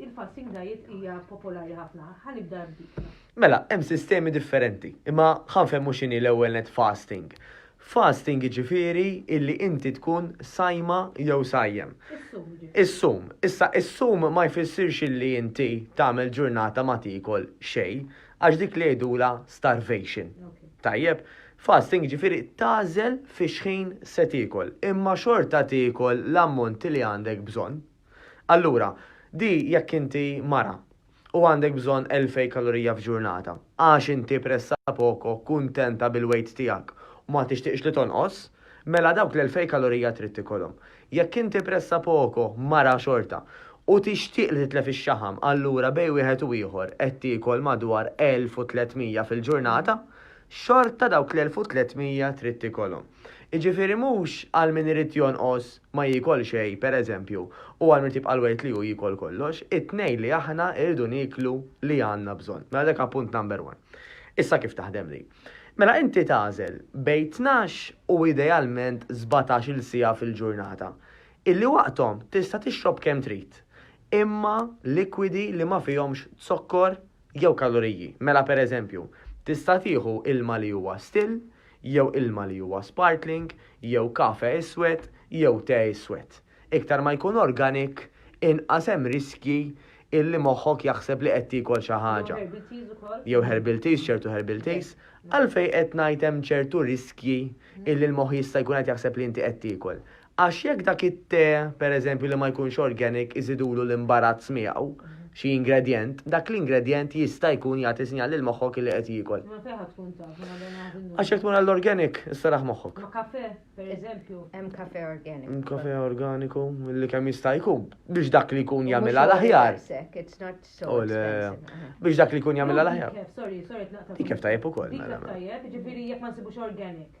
Il-fasting diet hija popolari ħafna. Ħa nibda b'dik. Mela, hemm sistemi differenti, imma ħa nfehmu x'inhi l-ewwel net fasting. Fasting jiġifieri illi inti tkun sajma jew sajjem. Is-sum jiġifieri. Is-sum. Issa is-sum ma jfissirx illi inti tagħmel ġurnata ma tiekol xejn, għax dik li jgħidulha starvation. Tajjeb? Fasting jiġifieri tagħżel fix-xħin se tiekol, imma xorta tiekol l-ammont li għandek bżonn. Allura, di jekk inti mara u għandek bżonn 2,000 kalorija f'ġurnata, għax inti pressapoko kuntenta bil-weight tiegħek u ma tixtieqx li tonqos, mela dawk l-2,000 kalorija trid tikolhom. Jekk inti pressapoko mara xorta u tixtieq li titlef ix-xaħam, allura bejn wieħed u ieħor qed tiekol madwar 1,300 fil-ġurnata, xorta dawk l-1,300 trid tikolhom. Jiġifieri mhux għal min irid jonqos ma jiekol xejn, pereżempju, u għal min irid jibqa' l-weight li hu jiekol kollox, it-tnejn li aħna rridu nieklu li għandna bżonn. Mela dak appunt number one. Issa kif taħdem din? Mela inti tagħżel bejn tnax u idealment sbatax-il siegħa fil-ġurnata, illi waqthom tista' tixrob kemm trid, imma likwidi li ma fihomx zokkor jew kaloriji. Mela pereżempju, tista' tieħu ilma li huwa still, jew ilma li huwa sparkling, jew kafe iswed, jew te iswed. Iktar ma jkun organic, inqas hemm riskji illi moħħok jaħseb li qed tiekol xi ħaġa. Jew herbal teas, ċertu herbal teas. Għalfejn qed ngħid hemm ċertu riskji illi l-moħħ jista' jkun qed jaħseb li inti qed tiekol? Għax jekk dak it-te, pereżempju, li ma jkunx organic iżidulu l-imbarazz miegħu, xi ingredjent, dak l-ingredjent jista' jkun jagħti sinjal lil moħħok li qed jiekol. Ma fejn ħa tkun taf, ma dan għad innu. Għax jekk tmur għall-organic, issaraħ moħħok. Ma kafè, pereżempju. Hemm kafè organiku. Hemm kafè organiku milli kemm jista' jkun biex dak li jkun jagħmilha l-aħjar. It's not so oh, expensive. Biex dak li jkun jagħmilha l-aħjar. Sorry, sorry, tnaqta. Dik kif tajjeb ukoll. Dik mela, mela. tajjeb, ġifieri jekk ma nsibux organic.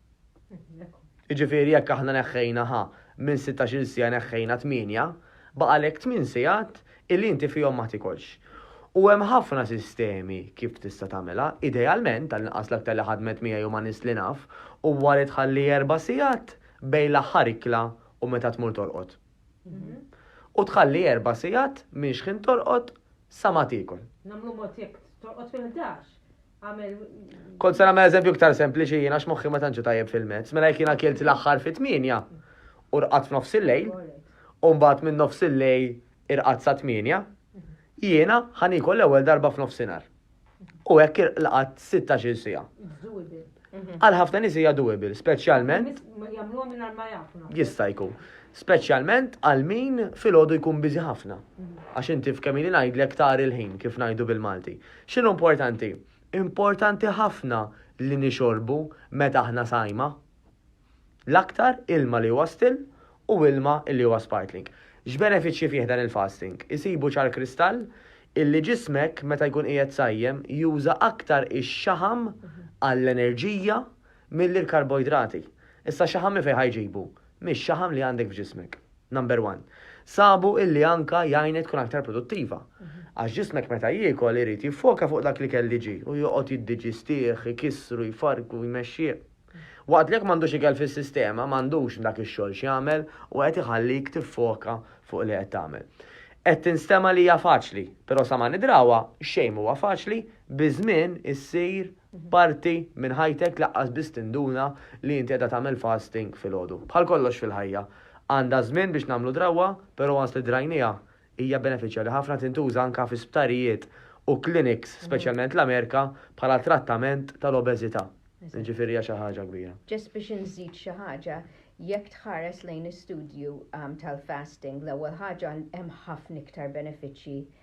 Jiġifieri jekk aħna neħħejna ħa minn sittax-il siegħa neħħejna tmienja, baqgħalek tmien sigħat illi inti fihom ma tikolx. U hemm ħafna sistemi kif tista' tagħmilha, idealment, tal-inqas l-aktar li ħadmet miegħi u ma' nies li naf, huwa li tħalli erba' sigħat bejn l-aħħar ikla u meta tmur torqod. U tħalli erba' sigħat minn xħin torqod sa ma tiekol. Nagħmlu mod jekk torqod fil-ħdax, Kont se nagħmel eżempju iktar sempliċi jiena x'moħħi ma tantx tajjeb fil-mezz, mela jekk jiena kilt l-aħħar fit-tmienja u rqat f'nofs il-lejl, u mbagħad minn nofs il-lejl irqat sa tmienja, jiena ħan ikol l-ewwel darba f'nofsinhar. U hekk irqat 16 sija. Mhm. Għal ħafna nies hija doable, speċjalment. Jista' jkun. Speċjalment għal min filgħodu jkun biżi ħafna. Mhm. Għax inti f'kemm ngħidlek tar il-ħin kif ngħidu bil-Malti. X'inhu importanti? Importanti ħafna li nixorbu meta aħna sajma. L-aktar ilma li huwa still u ilma li huwa sparkling. X'benefiċċji fih dan il-fasting? Isibu ċar kristall illi ġismek meta jkun qiegħed sajjem juża aktar ix-xaħam għall-enerġija milli l-karboidrati. Issa x-xaħam minn fejn ħa jġibu? mix-xaħam li għandek f'ġismek. Number one. Sabu illi anka jgħinek tkun aktar produttiva. Għax ġismek meta jiekol irid jiffoka fuq dak l-ikel li ġie u joqgħod jiddiġistih, ikissru, jfarrku, jmexxih. Waqt li jekk m'għandux ikel fis-sistema, m'għandux dak ix-xogħol x'jagħmel u qed iħallik tiffoka fuq li qed tagħmel. Qed tinstema' li hija faċli, però sa ma nidrawha, xejn m'huwa faċli, Biż-żmien issir parti minn ħajtek laqqas biss tinduna li inti qiegħda tagħmel fasting filgħodu. Bħal kollox fil-ħajja, għandha żmien biex nagħmlu drawwa, però once li drajnieha, hija benefiċjali ħafna tintuża anke fi sptarijiet u clinics, speċjalment l-Amerika, bħala trattament tal-obeżità. Jiġifieri hija xi ħaġa kbira. Ġust biex inżid xi ħaġa, jekk tħares lejn istudju tal-fasting, l-ewwel ħaġa hemm ħafna iktar benefiċċji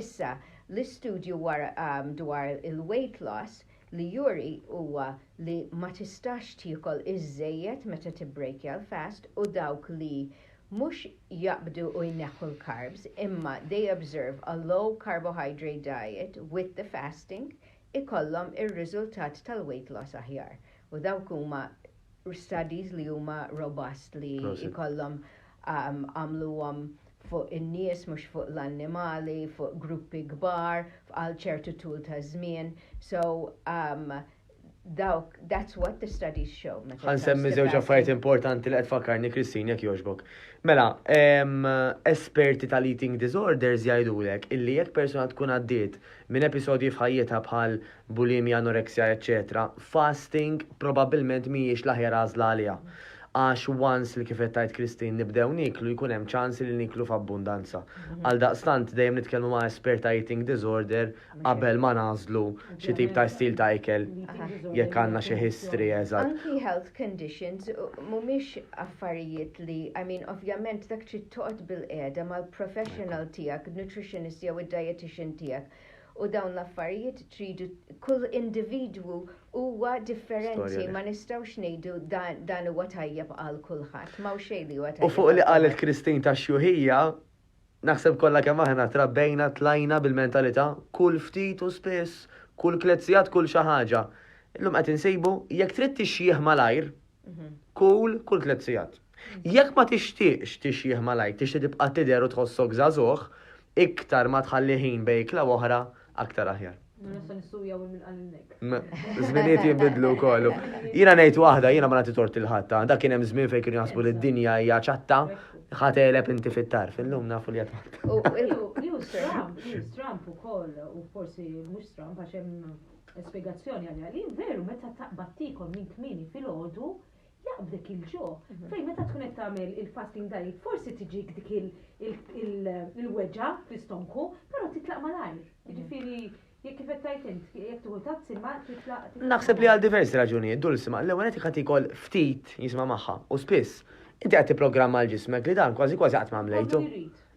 Issa, l-istudju dwar il-weight loss li juri huwa li ma tistax tiekol iżżejjed meta tibbrejkja l-fast u dawk li mhux jaqbdu u jneħħu l-carbs imma they observe a low carbohydrate diet with the fasting ikollhom ir-riżultat tal-weight loss aħjar u dawk huma studies li huma robust li jkollhom għamluhom fuq in-nies mhux fuq l-annimali, fuq gruppi kbar, għal ċertu tul ta' żmien. So um, dawk, that's what the studies show. Għan semmi zewġ affarijiet importanti li qed fakkarni Kristin jekk jogħġbok. Mela, esperti tal-eating disorders jgħidulek illi jekk persuna tkun għaddiet minn episodji f'ħajjitha bħal bulimja, anoreksja, eċċetera, fasting probabbilment mhijiex l-aħjar għażla għaliha. Għax once li kif qed tgħid Christine nibdew nieklu jkun hemm ċans li nieklu f'abbundanza. Għaldaqstant dejjem nitkellmu ma' espert ta' eating disorder qabel ma nagħżlu xi tip ta' istil ta' ikel jekk għandna xi history eżatt. Anki health conditions mhumiex affarijiet li, I mean ovvjament dak trid toqgħod bilqiegħda mal-professional tiegħek, nutritionist jew id-dietician tiegħek U dawn l-affarijiet tridu kull individwu huwa differenti ma nistgħux ngħidu dan huwa tajjeb għal kulħadd, m'hawn xejn li huwa tajjeb. U fuq li qalet Christine tax-xjuħija, naħseb kollha kemm aħna trabbejna tlajna bil-mentalità kull ftit u spiss, kull tliet sigħat kull xi ħaġa. Illum qed insibu jekk trid tixjieħ malajr, kull kull tliet sigħat. Jekk ma tixtieqx tixjieħ malajr, tixtieq tibqa' tidher u tħossok żagħżugħ, iktar ma tħalli ħin bejn ikla u oħra, aktar aħjar. Żminijiet jinbidlu wkoll. Jiena ngħid waħda, jiena ma nagħti tort lil ħadd, ah, dak kien hemm żmien fejn kienu jaħsbu li d-dinja hija ċatta, ħateleb inti fit-tarf, illum nafu li qed News Trump ukoll u forsi mhux Trump għax hemm spjegazzjoni għalija li veru meta taqbad tikol minn kmieni filgħodu Jaqbdek il-ġo, fejn meta tkun qed tagħmel il-fasting diet forsi tiġik dik il-weġgħa fl-istonku, però titlaq malajr. Jiġifieri jekk kif qed tgħid int, jekk tieħu tazz imma titlaq. Naħseb li għal diversi raġunijiet dul sima, l-ewwel qed jkun tikol ftit jisma' magħha u spiss inti qed tipprogramma l-ġismek li dan kważi kważi qatt ma għamlejtu.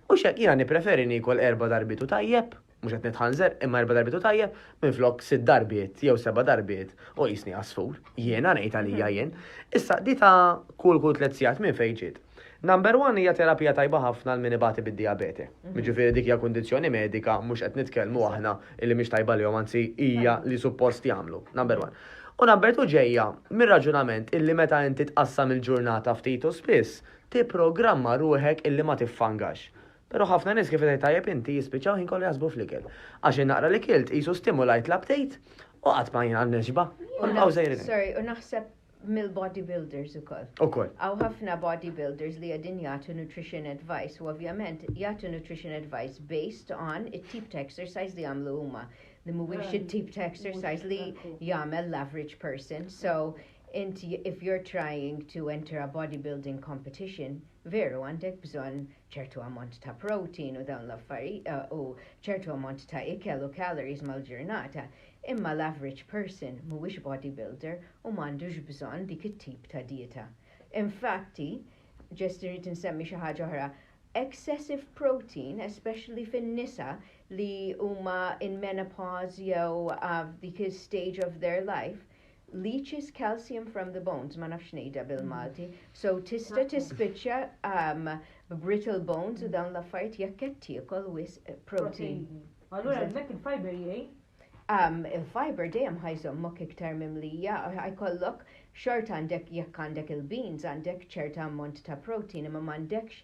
U x'hekk jiena nippreferi niekol erba' darbiet u tajjeb. Mhux qed nitħanżer, imma erba' darbiet hu tajjeb, minflok sitt darbiet jew seba' darbiet u qisni għasfur. Jiena ngħid għalija jien. Issa, di ta' kull kull tliet sigħat minn fejn ġiet? Number one hija terapija tajba ħafna għal min ibati bid-dijabete. Jiġifieri dik hija kundizzjoni medika, mhux qed nitkellmu aħna illi mhix tajba lihom, anzi hija li suppost jagħmlu. Number one. U number two ġejja mir-raġunament illi meta inti tqassam il-ġurnata ftit u spiss, tipprogramma ruħek illi ma tiffangax. Pero ħafna nies kif tgħid tajjeb inti jispiċċaw ħin kollu jaħsbu fl-ikel. Għax in-naqra li kilt qisu stimulajt l-aptejt u qatt ma jien nixba. U nibqgħu sejrin. Sorry, u naħseb mill-bodybuilders ukoll. Ukoll. Għaw ħafna bodybuilders li għedin jagħtu nutrition advice u ovvjament jagħtu nutrition advice based on it-tip ta' exercise li għamlu huma li mhuwiex it-tip ta' exercise li jagħmel l-average person. So inti if you're trying to enter a bodybuilding competition, veru għandek bżonn ċertu ammont ta' protein u dawn l-affarijiet u ċertu ammont ta' ikel u calories mal-ġurnata, imma l-average person mhuwiex bodybuilder u m'għandux bżonn dik it-tip ta' dieta. Infatti, ġest irrid insemmi xi ħaġa oħra, excessive protein, especially fin-nisa li huma in menopause jew f'dik is-stage of their life, leaches calcium from the bones, ma nafx ngħidha bil-Malti, so tista' tispiċċa um, b'brittle bones u dawn l-affarijiet jekk qed tiekol wisq protein. Allura hemmhekk il-fiber jgħin? Um, il-fiber dejjem ħajżommok iktar mimlija, ħajkollok xort għandek jekk għandek il-beans għandek ċerta ammont ta' protein imma m'għandekx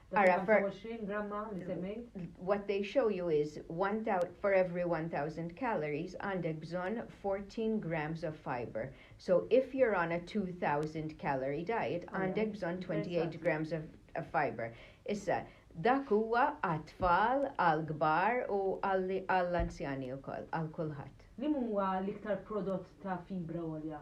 Ara, for 20 gramma li semmejt. What they show you is one for every 1000 calories għandek bżonn 14 grams of fiber. So if you're on a 2000 calorie diet għandek bżonn 28 grams of, of fiber. Issa, dak huwa għat-tfal, għal-kbar u għall-anzjani wkoll, għal kulħadd. Li huwa l-iktar prodott ta' fibra għolja?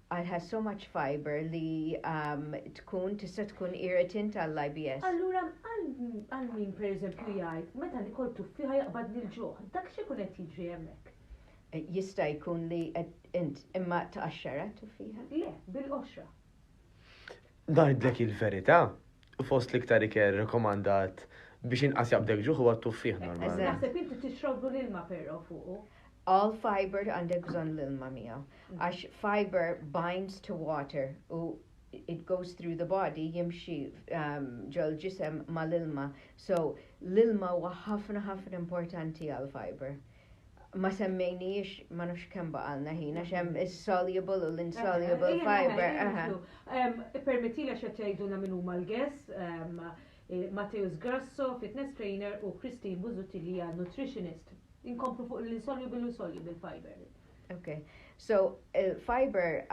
Għal has so much fibre li tkun tista' tkun irritant għall-IBS. Allura għal min pereżempju jgħid meta nikol tuffieħa jaqbadni l-ġuħ, dak x'ikun qed jiġri hemmhekk? Jista' jkun li qed int imma tqaxxarha t-tuffieħa? Le, bil-qoxra. Ngħidlek il-verità, fost l-iktar ikel rekomandat biex inqas jaqbdek ġuħ huwa t-tuffieħ normalment. Naħseb inti tixroblu l-ilma però fuqu. All fiber għandek bżonn l-ilma miegħu għax fiber binds to water u it goes through the body jimxi ġol-ġisem mal-ilma so l-ilma huwa ħafna ħafna importanti għall-fiber. ma semmejniex ma nafx kemm baqalna ħin għax hemm is-soluble u l-insoluble fiber. Permetti li xed jgħidulna min huma l-guest, Mateus Grasso, fitness trainer u Christine Buzutti li hija nutritionist. Inkomplu fuq l-insoluble u soluble fiber. Okay. So, fiber,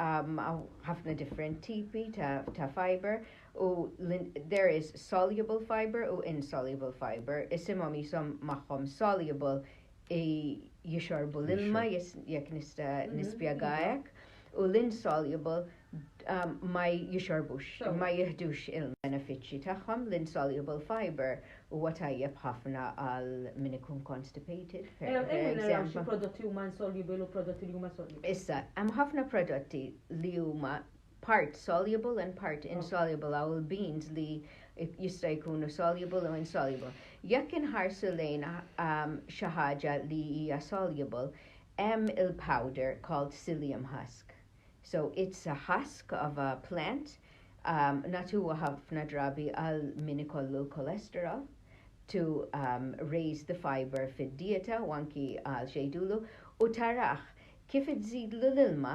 ħafna different tipi ta' fiber, u there is soluble fibre u insoluble fibre, isimhom qishom magħhom soluble jixorbu l-ilma jekk nista' mhm. nispjega hekk, u l-insoluble um, ma jixorbux, ma jihdux il-benefiċċji tagħhom, l-insoluble fibre huwa tajjeb ħafna għal min ikun constipated. Eh, eh, prodotti huma insoluble u prodotti li huma soluble. Issa, hemm ħafna prodotti li huma part soluble and part insoluble għaw il-beans li jista' jkunu soluble u insoluble. Jekk inħarsu lejn um, xi ħaġa li hija soluble, hemm il-powder called psyllium husk. So it's a husk of a plant um, natuwa ħafna drabi għal min ikollu l-kolesterol to um, raise the fiber fid-dieta u anki għal xejdulu u taraħ kif iżidlu l-ilma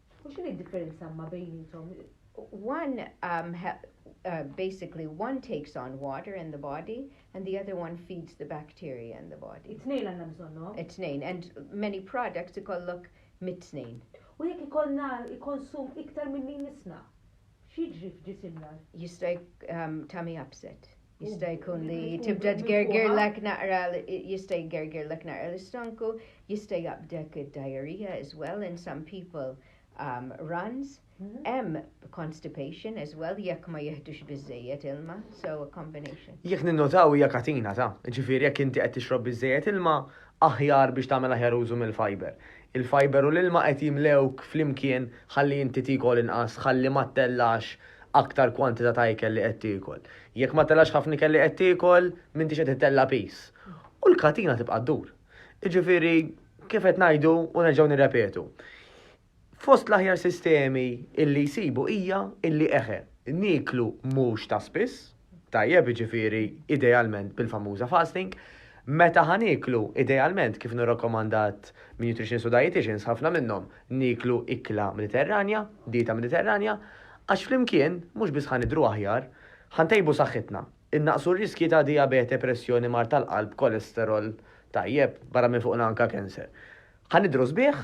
U x'inhi d-differenza ma' bejniethom? One um, ha, uh, basically one takes on water in the body and the other one feeds the bacteria in the body. It-tnejn għandna bżonnhom. It-tnejn and many products ikollok mit-tnejn. U jekk ikollna konsum iktar minn min nisna, x'jiġri f'ġisimna? Jista' um, tummy upset. Jista' jkun li tibda tgergirlek naqra jista' jgergirlek naqra l-istonku, jista' jaqbdek id-diarrhea as well in some people um, runs. Mm-hmm. Hemm constipation as well jekk ma jihdux biżejjed ilma, so a combination. Jekk ninnotaw hija katina ta', ġifieri jekk inti qed tixrob biżejjed ilma, aħjar biex tagħmel aħjar użu mill-fiber. Il-fajber u l-ilma qed jimlewk flimkien ħalli inti tiekol inqas, ħalli ma ttellax aktar kwantità ta' ikel li qed tiekol. Jekk ma ttellax ħafna ikel li qed tiekol, m'intix qed ittella' piż. U l-katina tibqa' ddur. Jiġifieri, kif qed ngħidu u nerġgħu nirrepetu, fost l-aħjar sistemi illi jsibu hija illi eħe, nieklu mhux ta' spiss, tajjeb, jiġifieri idealment bil-famuża fasting, meta ħa nieklu, idealment kif inhu rakkomandat minn nutritionist u dieticians, ħafna minnhom, nieklu ikla Mediterranja, dieta Mediterranja, għax flimkien mhux biss ħa nidhru aħjar, ħa ntejbu saħħitna, innaqqsu r-riskji ta' dijabete, pressjoni, mard tal-qalb, kolesterol, tajjeb, barra minn fuqna anke kenser. Ħa nidhru sbieħ.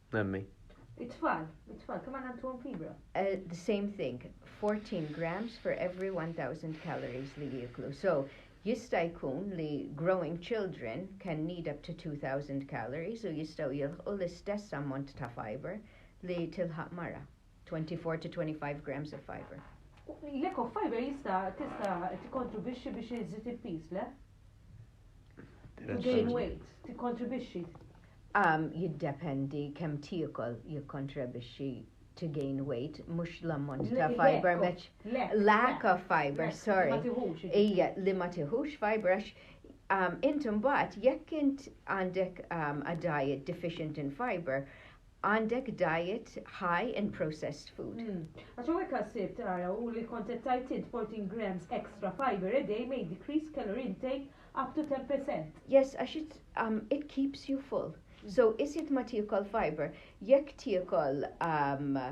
Nemmi. It-tfal, it-tfal, kemm għandna ntuhom fibra? Uh, the same thing, 14 grams for every 1000 calories li jieklu. So, jista' jkun li growing children can need up to 2000 calories u jistgħu jilħqu l-istess ammont ta' fiber li tilħaq mara. 24 to 25 grams of fiber. L-eco fiber jista' tista' tikkontribwixxi biex iżid il-piż, le? To gain weight, tikkontribwixxi. Um, jiddependi kemm tiekol jikkontribwixxi to gain weight, mhux l-ammont ta' fiber meċ. Lack of fiber, sorry. Ija, li ma tiħux fiber għax um, int imbagħad jekk int għandek um, a diet deficient in fiber, għandek diet high in processed food. Għax hawnhekk qal sirt tara u li kont qed tgħid int 14 grams extra fibre a day may decrease calorie intake up to 10 percent. Yes għax it um it keeps you full. So iżjed ma tiekol fibre, jekk tiekol um a,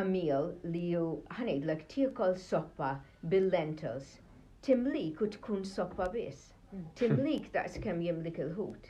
a meal li ju ħa ngħidlek tiekol soppa bil-lentils timlik u tkun soppa biss. Timlik daqs kemm jimlik il-ħut.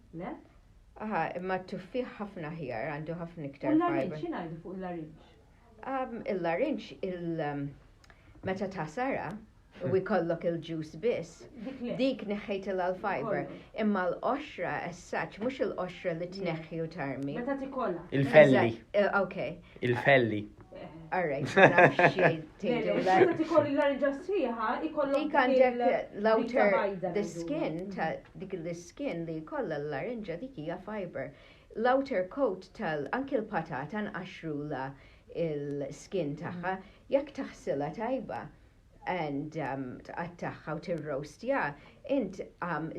Le? Aha, imma t-tuffieħ ħafna aħjar, għandu ħafna iktar. U l-larinġ, xi ngħidu fuq il-larinġ? Il-larinġ, um, meta tasara, u jkollok il-ġus biss, dik neħħejt il-fiber, imma l-qoxra essaċ, mux il-qoxra li tneħħi u tarmi. Meta tikolla. Il-felli. Eh, ok. Il-felli. Arrejt, Xinu tikolli l-arġa sħiħa, ikollu. Dik għandek l-outer, the skin, ta' dik l-skin li kolla l-larinġa dik hija fiber. L-outer coat tal, anki l-patata nqaxrula il-skin tagħha, jekk taħsila tajba, and tqattagħha u tirroastja, int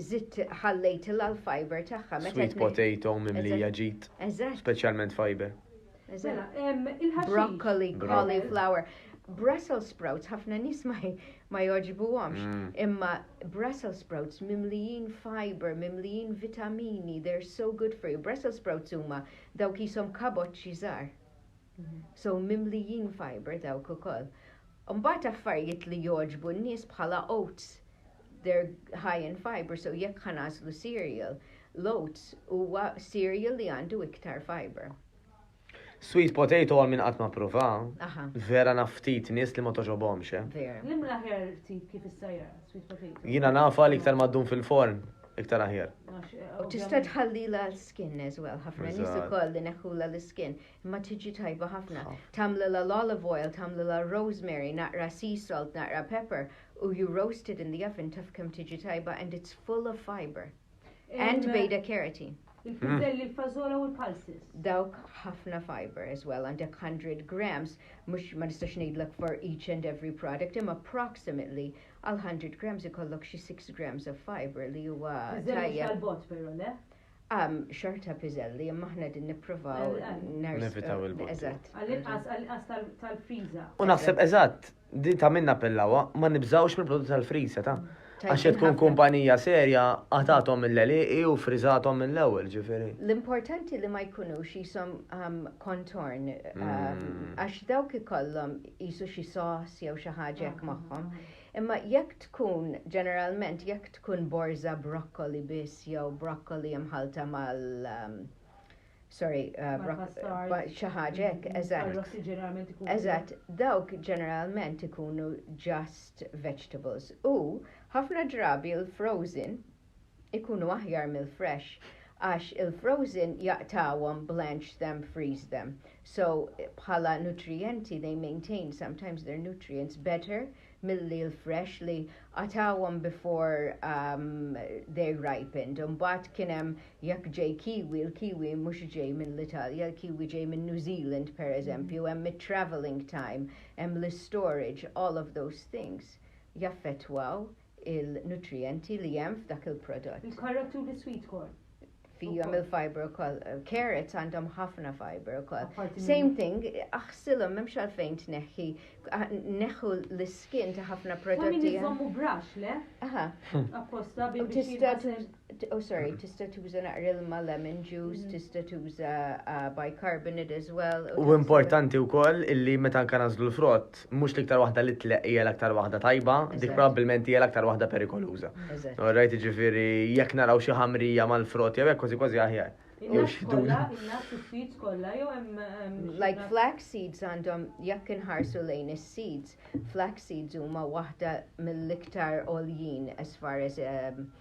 żidt ħallejtilha l-fibre tagħha meta. Sweet potato mimlija ġid. Eżatt. Speċjalment fibre. Mela, il-ħaxix. Broccoli, cauliflower. Brussels sprouts ħafna nies ma jogħġbuhomx, mm. imma Brussels sprouts mimlijin fiber, mimlijin vitamini, they're so good for you. Brussels sprouts huma dawk ishom kaboċċi żgħar. So mimlijin fibre dawk ukoll. Mbagħad affarijiet li jogħġbu n-nies bħala oats. They're high in fibre, so jekk ħa nagħżlu cereal, l-oats huwa cereal li għandu iktar fibre. Sweet potato għal minn qatt ma prova. Vera naf ftit nies li ma toġobhomx. Eh. L-imla ħer tip kif issajjar sweet potato. Jiena nafa li iktar maddum fil-forn iktar aħjar. U tista' tħallila l-skin as well, ħafna nies ukoll li neħħula l-skin. Imma tiġi tajba ħafna. Tagħmlilha l-olive oil, tagħmlilha r-rosemary, naqra sea salt, naqra pepper u you roast it in the oven taf kemm tiġi tajba and it's full of fibre. And beta carotene. Il-fizzelli, mm. il-fazola u l-pulses. Dawk ħafna fiber as well, għandek 100 grams, mux ma nistax ngħidlek for each and every product, imma approximately għal 100 grams ikollok xi 6 grams of fiber li huwa. Fizzelli tal-bot però, le? Għam, xorta piżelli, imma aħna qegħdin nippruvaw nerżqu. Nevitaw il-botti. Eżatt. Għall-inqas, għall-inqas tal- tal-friża. U naħseb eżatt, di ta' min nappellawha, ma nibżgħux mill-prodotti tal-friża ta'. Għax jekk tkun kumpanija serja, qatagħthom mill-għelieqi u friżathom mill-ewwel, ġifieri. L-importanti li ma jkunux qishom ehm, contorn, ehm, għax dawk ikollhom qisu xi sauce jew xi ħaġa hekk magħhom. Imma jekk tkun, ġeneralment jekk tkun borża broccoli biss jew broccoli mħallta mal um, sorry, uh, broccoli xi ħaġa hekk, mm-hmm. eżatt. Eżatt, dawk ġeneralment ikunu just vegetables. U ħafna drabi l-frozen ikunu aħjar mill-fresh għax il-frozen jaqtgħuhom blanch them, freeze them so bħala nutrijenti they maintain sometimes their nutrients better milli l-fresh li qatgħuhom before they ripened u mbagħad kien hemm jekk ġej kiwi il-kiwi mhux ġej mill-Italja il-kiwi ġej minn New Zealand pereżempju hemm it-travelling time hemm l-istorage all of those things jaffettwaw il-nutrijenti li hemm f'dak il-prodott. Il-karot u l-sweet corn. Fihom il-fiber ukoll. Carrots għandhom ħafna fiber ukoll. Same thing, aħsilhom m'hemmx għalfejn tneħħi, neħħu l-iskin ta' ħafna prodotti. Min iżommu brax, le? Aha. Apposta biex. Oh sorry, tista' tuża naqra ilma lemon juice, mm-hmm. tista' tuża uh, bicarbonate as well. U importanti wkoll illi meta anke nażlu l-frott, mhux l-iktar waħda li tleq hija l-aktar waħda tajba, dik probabbilment hija l-aktar waħda perikoluża. Rajt ġifieri jekk naraw xi ħamrija mal-frott jew hekk kważi kważi aħjar. Jew x'duna. seeds kollha jew hemm like flax seeds għandhom jekk inħarsu lejn is-seeds, flax seeds huma waħda mill-iktar għoljin as far as um,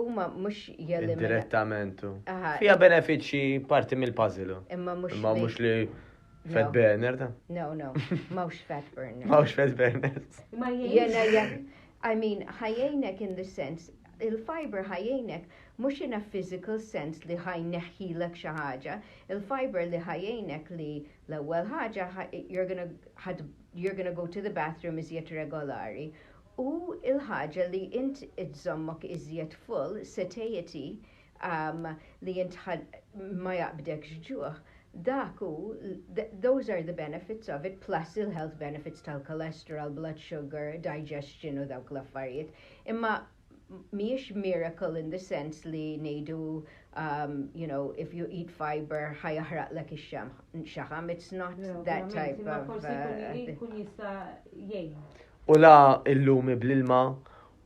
Huma mhux jeliminaw. Indirettament. Fija benefiċċji parti mill-puzzle. Imma mhux. Imma mhux li Fat burner ta? No, no, mawx fat burner. Mawx fat burner. Ma jena jek, I mean, ħajjajnek in the sense, il-fiber ħajjajnek mux in a physical sense li ħaj neħħilek xaħġa, il-fiber li ħajjajnek li l-ewel ħaġa, you're gonna, you're gonna go to the bathroom iżjed regolari U l-ħaġa li int iżżommok iżjed full, satiety, li int ma jaqbdekx ġuħ, dak hu, those are the benefits of it plus il-health benefits tal-cholesterol, blood sugar, digestion u dawk l-affarijiet. Imma mhijiex miracle in the sense li ngħidu you know if you eat fibre ħa jaħraqlek ix-xaħam, it's not that type of. Imma forsi jkun jista' jgħin. U la illumi bl-ilma,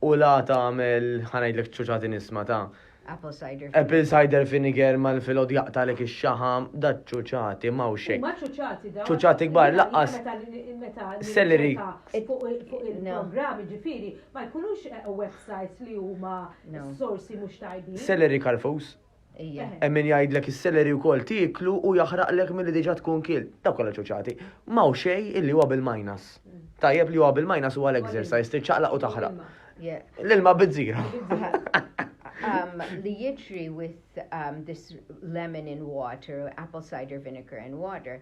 u la tagħmel, ħa ngħidlek ċuċati nisma' ta'. Apple cider. Apple cider vinegar mal-filgħod jaqtalek ix-xaħam, da ċuċati m'hawnx hekk. Huma ċuċati dawn. Ċuċati kbar laqqas. Meta celery fuq il-programm ġifieri ma jkunux eh, websites li huma sorsi mhux tajbin. Celery karfus. Ejja. Hemm min jgħidlek is-celery wkoll tieklu u jaħraqlek milli diġà tkun kielt. Dawk kollha ċuċati. M'hawn xejn illi huwa bil-minus. Tajjeb li huwa bil-minus huwa l-exercise, trid ċaqlaq u taħraq. L-ilma bizzira. Um, li jiġri with um, this lemon in water, apple cider vinegar in water,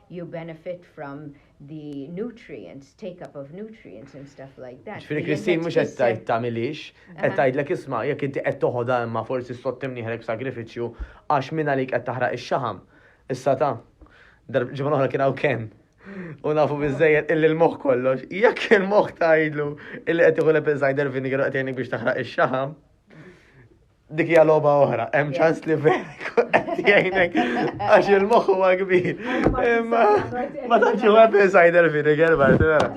you benefit from the nutrients, take up of nutrients and stuff like that. Ġifieri Christine mhux qed tgħid tagħmilix, qed tgħidlek isma' jekk inti qed toħodha imma forsi sott imnieħrek b'sagrifiċċju għax minn għalik qed taħraq ix-xaħam. Issa ta' ġimgħa oħra kien hawn Ken. U nafu bizzejed illi l-moħ kollox. Jekk il-moħ tajdlu illi qed iħu l-apple cider vinegar qed biex taħraq ix-xaħam. Dik hija logħba oħra, hemm ċans li verek qed jgħinek għax il-moħħ huwa kbir. Imma ma tantx huwa apple cider vinegar bart vera.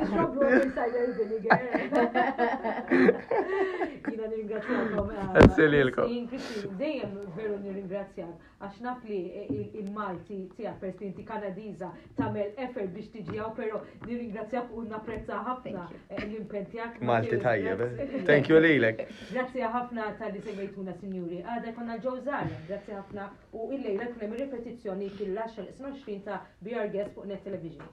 Jiena nirringrazzjakom. Essililkom. Dejjem veru nirringrazzjak. għax naf li il-Malti tiegħek peress li inti Kanadiża tagħmel effort biex tiġi hawn, però nirringrazzjak u napprezza ħafna eh, l-impenn tiegħek. Malti tajjeb. Eh. Thank you lilek. Grazzi ħafna tal-li semmejtuna sinjuri. Għada konna l-ġewżar, grazzi ħafna u illejla kien hemm ripetizzjoni fil-10 20 ta' BR Guest fuq Net Television.